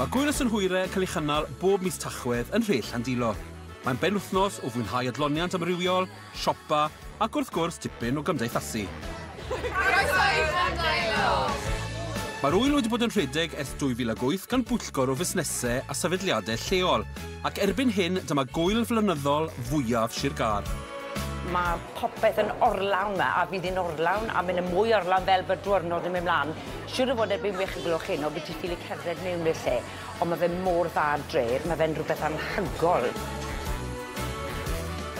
Mae Gŵyl y Synhwyre yn cael ei chynnal bob mis Tachwedd yn Nhre Llandilo. Mae'n benwythnos o fwynhau adloniant amrywiol, siopa ac wrth gwrs dipyn o gymdeithasu. Croeso i Llandeilo! Mae'r ŵyl wedi bod yn rhedeg ers 2008 gan bwyllgor o fusnesau a sefydliadau lleol ac erbyn hyn dyma gŵyl flynyddol fwyaf Sir Gâr. Mae'r popeth yn orlawn 'ma a fydd hi'n orlawn a mynd yn mwy orlawn fel bod diwrnod yn mynd mlaen. Siŵr o fod erbyn wech y gloch heno bydd ti ffili cerdded mewn i'r lle ond mae fe mor dda dref, mae fe'n rhywbeth anhygoel.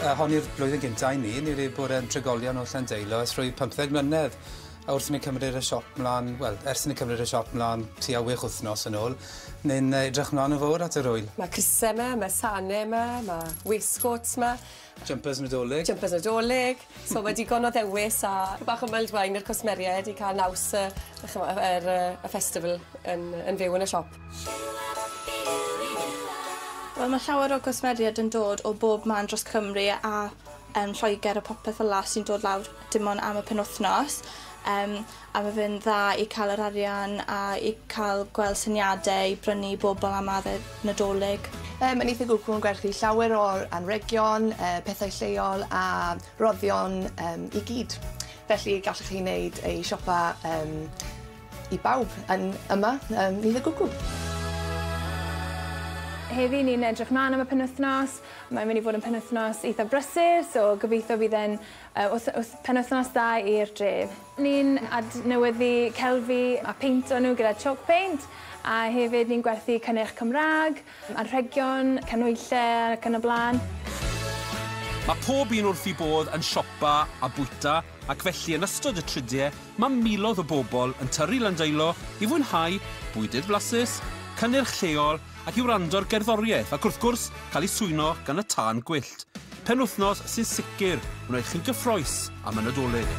A hon yw'r blwyddyn gynta i mi, ni ryw bore yn trigolion o Llandeilo ers rhwy pymtheg mlynedd a wrth i ni cymryd y siop mlan, wel, ers i ni cymryd y siop mlan tua wech wythnos yn ôl, ni'n yy edrych mlan yn fowr at yr ŵyl. Mae cruse 'ma, mae sane 'ma, mae waistcoats 'ma, Jumpers Nadolig. Jumpers Nadolig. So mae digon o ddewis a bach o mulled wine i'r cwsmeriaid i cael naws y, er, y festival yn, yn fyw yn y siop. Wel, mae llawer o gwsmeriaid yn dod o bob man dros Cymru a um, Lloegr a popeth fel la sy'n dod lawr dim ond am y penwthnos. Um, A mae fe'n dda i cael yr arian a i cael gweld syniadau i brynu i bobl am adeg Nadolig. Mae Mynydd y Gwcw yn gwerthu llawer o anrhegion, pethau lleol a rhoddion i gyd. Felly gallwch chi wneud eu siopa i bawb yn yma ym Mynydd y Gwcw. Heddi ni'n edrych mlan am y penwythnos. Mae'n mynd i fod yn penwythnos eitha brysur so gobeithio bydd e'n Wrth penwythnos da i'r dref. Ni'n adnewyddu celfi a peinto nhw gyda chalk paint a hefyd ni'n gwerthu cynnyrch Cymraeg, anrhegion, canhwyllau ac yn y blaen. Mae pob un wrth eu bodd yn siopa a bwyta ac felly yn ystod y tridiau mae miloedd o bobl yn tyrru Landeilo i fwynhau bwydydd flasus, cynnyrch lleol ac i wrando'r gerddoriaeth ac wrth gwrs cael ei swyno gan y tân gwyllt. Penwythnos sy'n sicr wneud chi'n gyffroes am y Nadolig.